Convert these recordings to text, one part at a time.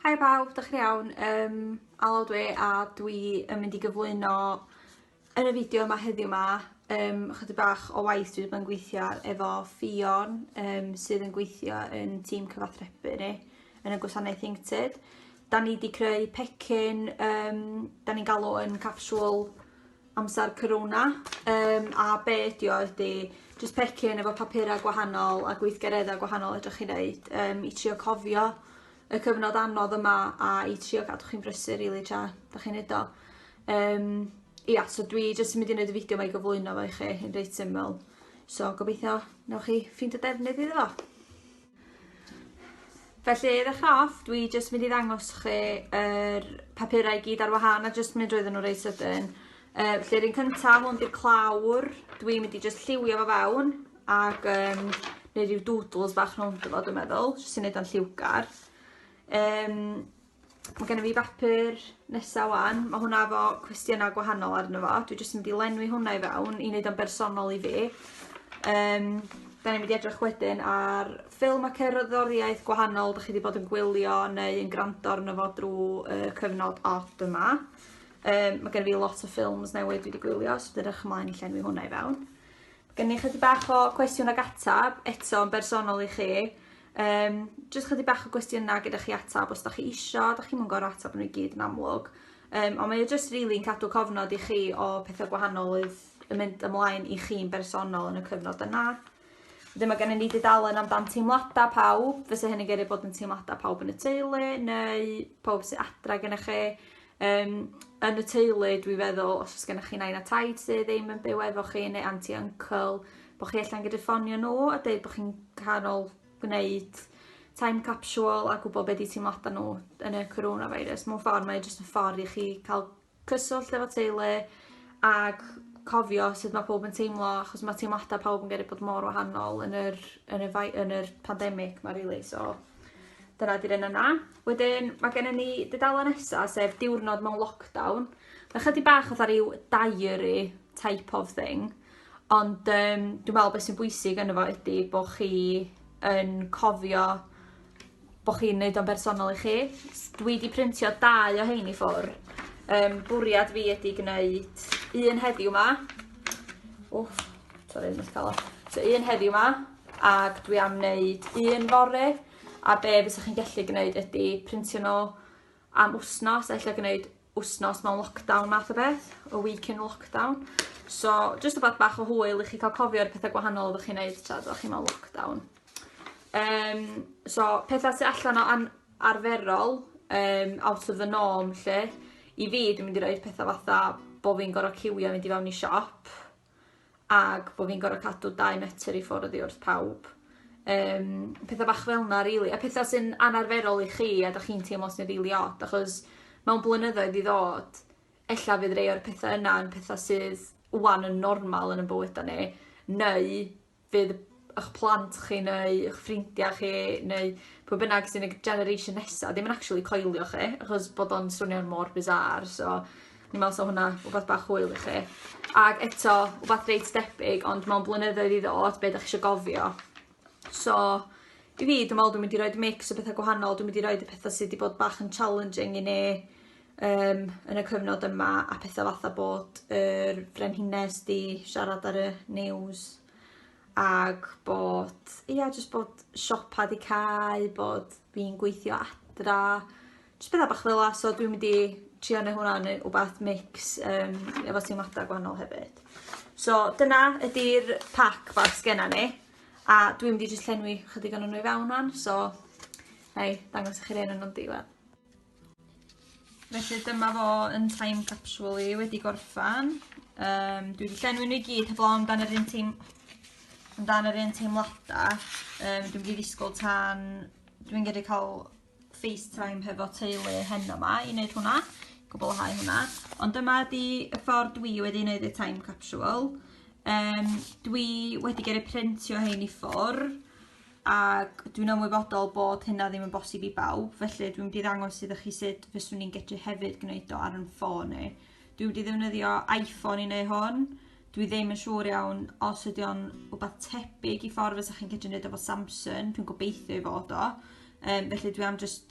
Hi pawb, dych chi'n iawn? Um, Alod we a dwi yn mynd i gyflwyno yn y fideo yma heddiw yma um, chydig bach o waith dwi wedi gweithio efo Fion um, sydd yn gweithio yn tîm cyfathrebu ni yn y gwasanaeth Inkted. Da ni wedi creu pecyn, um, da ni'n galw yn capsule amser corona yym a be' ydi o ydi jyst pecyn efo papura' gwahanol a gweithgaredda' gwahanol fedrwch chi neud yym i trio cofio y cyfnod anodd yma a i trio gadw chi'n brysur rili tra 'dach chi'n neud o. Yym ia so dwi jyst yn mynd i neud y fideo 'ma i gyflwyno fo i chi yn reit syml so gobeithio newch chi ffindo defnydd iddo fo. Felly, i ddechrau off, dwi jyst mynd i ddangos chi yr papurau i gyd ar wahân a jyst mynd roedden nhw reit sydyn. Uh, felly, rhywun cyntaf, hwn di'r clawr. Dwi'n mynd i jyst lliwio fo fewn ac um, neu rhyw doodles bach rhwng fo, dwi'n meddwl, jyst i wneud o'n lliwgar. Um, Mae gennym fi bapur nesaf wan. Mae hwnna efo cwestiynau gwahanol arno fo. Dwi jyst yn mynd i lenwi hwnna i fewn i wneud o'n bersonol i fi. Um, da ni'n mynd i edrych wedyn ar ffilm a cerddoriaeth gwahanol da chi wedi bod yn gwylio neu yn gwrando arno fo drwy uh, cyfnod od yma. Um, mae gen i fi lot o ffilms newydd dwi wedi gwylio, so dwi'n edrych ymlaen i llenwi hwnna i fewn. Gen i chydig bach o cwestiwn ag atab, eto yn bersonol i chi. Um, just chydig bach o gwestiynau gyda chi atab os da chi isio, da chi'n mynd gorau atab nhw i gyd yn amlwg. Um, ond mae o just really yn cadw cofnod i chi o pethau gwahanol oedd yn mynd ymlaen i chi'n bersonol yn y cyfnod yna. Ddim mae gennym ni dudalen amdan teimladau pawb, fysa hynny'n gyrru bod yn teimladau pawb yn y teulu, neu pawb sy'n adra gennych chi. Yym, yn y teulu, dwi feddwl, os oes gennych chi nain a taid sydd ddim yn byw efo chi neu anti uncle, bod chi allan gyda ffonio nhw a dweud bod chi'n canol gwneud time capsule a gwybod beth di teimladau nhw yn y coronavirus. Mewn ffordd, mae jyst yn ffordd i chi cael cyswllt efo teulu ac cofio sut mae pob yn teimlo, achos mae teimladau pawb yn gyrru bod mor wahanol yn yr, yn y, yn yr pandemig mae rili, really, so dyna di'r un yna. Wedyn mae gennym ni dudalen nesa sef diwrnod mewn lockdown. Mae chydig bach fatha rhyw diary type of thing. Ond um, dwi'n meddwl beth sy'n bwysig yn efo ydy bod chi yn cofio bod chi'n neud o'n bersonol i chi. Dwi wedi printio dau o hein i ffwr. Um, bwriad fi ydy gwneud un heddiw ma. Wff, torri'n eich calon. So un heddiw ma, ac dwi am wneud un fore, a be fysa chi'n gallu gneud ydi printio n'w am wsnos a ella gneud wsnos mewn lockdown math o beth, a week in lockdown. So jyst rwbath bach o hwyl i chi cael cofio'r pethau gwahanol oeddech chi'n neud tra oeddech chi mewn lockdown. Um, so pethau sy'n allan o an arferol, um, out of the norm lle, i fi dwi'n mynd i roi'r pethau fatha bod fi'n gorfod ciwio mynd i fewn i siop, ag bod fi'n gorfod cadw dau metr i ffwrdd oddi wrth pawb. Um, pethau bach fel yna, really. A pethau sy'n anarferol i chi a da chi'n teimlo sy'n rili really od, achos mewn blynyddoedd i ddod, ella fydd rei o'r pethau yna yn pethau sydd wan yn normal yn y bywydau ni, neu fydd 'ych plant chi neu 'ych ffrindiau chi neu pwy bynnag sy'n y generation nesa ddim yn actually coelio chi achos bod o'n swnio'n mor bizarre so fi'n me'wl sa hwnna wbath bach hwyl i chi. Ag eto wbath reit debyg ond mewn blynyddoedd i ddod be' 'dach chi isio gofio. So i fi dwi me'wl dwi mynd i roid mix o betha gwahanol dwi mynd i roid y petha sy 'di bod bach yn challenging i ni um, yn y cyfnod yma a pethau fatha bod yr frenhines di siarad ar y news ag bod, ia, yeah, jyst bod siopa di cael, bod fi'n gweithio adra, jyst bethau bach fel la, so dwi'n mynd i trio neu hwnna neu wbath mix um, efo teimladau gwahanol hefyd. So dyna ydy'r pack bach sgenna ni, a dwi'n mynd i jyst llenwi chydig o'n nhw i fewn o'n, so na i dangos i chi'r un o'n nhw'n diwedd. Felly dyma fo yn time capsule i wedi gorffan. Um, dwi wedi llenwi nhw i gyd heblaw amdan yr un teim amdan yr un teimladau. Um, dwi'n wedi ddisgwyl tan dwi'n gyrru cael FaceTime hefo teulu hen yma i wneud hwnna, gwblhau hwnna. Ond dyma di y ffordd dwi wedi wneud y time capsule. Um, dwi wedi gyrru printio hein i ffwrdd ac dwi'n ymwybodol bod hynna ddim yn bosib i bawb, felly dwi'n mynd i ddangos iddo chi sut fyswn ni'n gallu hefyd gwneud o ar yn ffôn ni. Dwi'n mynd i ddefnyddio iPhone i wneud hwn. Dwi ddim yn siŵr iawn os ydy o'n rhywbeth tebyg i ffordd fysa chi'n gallu gwneud efo Samsung, dwi'n gobeithio i fod o. Um, felly dwi am just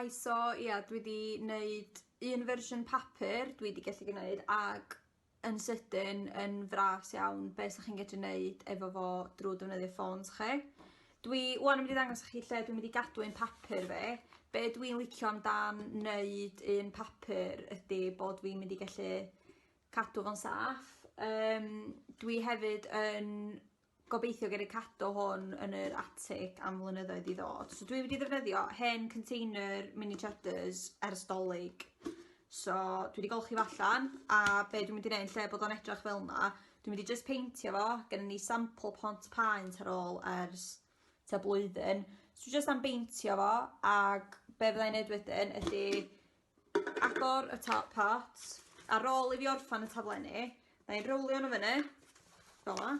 Hi so ia dwi 'di neud un fersiwn papur dwi 'di gallu gneud ag yn sydyn yn fras iawn be' 'sach chi'n gallu neud efo fo drwy defnyddio ffôns chi. Dwi 'wan yn mynd i ddangos i chi lle dwi'n mynd i gadw ein papur fi. Be' dwi'n licio amdan neud un papur ydi bod fi'n mynd i gallu cadw fo'n saff. Um, dwi hefyd yn gobeithio gen i cadw hwn yn yr atig am flynyddoedd i ddod. So dwi wedi ddefnyddio hen container mini cheddars ers dolyg. So dwi wedi golchi fo allan a be dwi'n mynd i wneud lle bod o'n edrych fel yna, dwi'n mynd i just peintio fo, gen ni sample pont paent ar ôl ers ta blwyddyn. So dwi just am beintio fo ac be fyddai'n neud wedyn ydy agor y top pot. Ar ôl i fi orffan y taflenni, na i'n rowlio nhw fyny, fel yma.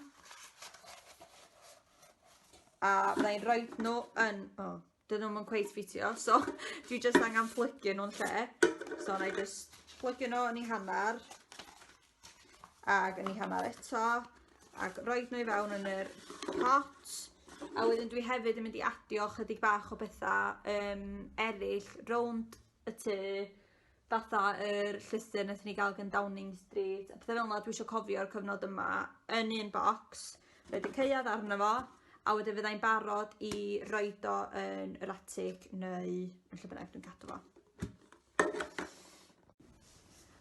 A na i'n rhoi nhw yn, o, oh, dyn nhw'n cweith ffitio, so dwi jyst angen plygio nhw'n lle. So na i jyst plygio nhw yn ei hanner. Ac yn ei hanner eto. Ac roed nhw i fewn yn yr pot. A wedyn dwi hefyd yn mynd i adio chydig bach o bethau um, eraill rownd y tŷ fatha yr llystyr nes ni gael gan Downing Street a pethau fel yna dwi eisiau cofio'r cyfnod yma yn un bocs roed y ceuad arno fo a wedyn fyddai'n barod i roed o yn yr atig neu yn lle bynnag dwi'n cadw fo.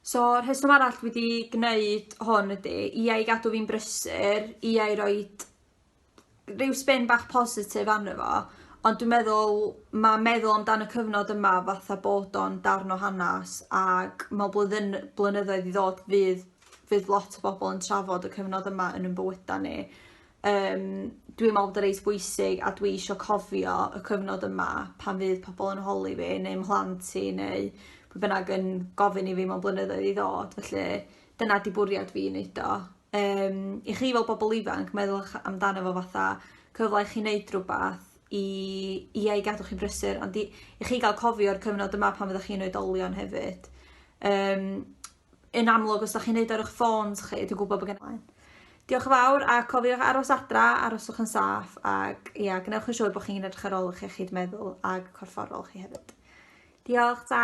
So, rheswm arall fi 'di gneud hwn ydy i ai gadw fi'n brysur, i ai roi rhyw spin bach positif arno fo, ond dwi'n meddwl ma' meddwl amdan y cyfnod yma fatha bod o'n darn o hanes ac mewn blwyddyn blynyddoedd i ddod fydd fydd lot o bobl yn trafod y cyfnod yma yn 'yn bywyda ni. Yym dwi me'wl bod o reit bwysig a dwi isio cofio y cyfnod yma pan fydd pobol yn holi fi neu mhlant i neu pwy bynnag yn gofyn i fi mewn blynyddoedd i ddod felly dyna 'di bwriad fi i neud o. Yym i chi fel bobol ifanc meddyl'ch amdano fo fatha cyfla i chi neud rwbath i ia i gadw chi'n brysur ond i i chi ga'l cofio'r cyfnod yma pan fyddach chi'n oedolion hefyd. Yym. yn amlwg os da chi'n neud ar eich ffôns chi, dwi'n gwybod bod gen i. Diolch yn fawr a cofiwch aros adra, aroswch yn saff ac ia, gwnewch yn siŵr bod chi'n edrych ar ôl eich iechyd meddwl ag corfforol chi hefyd. Diolch, ta!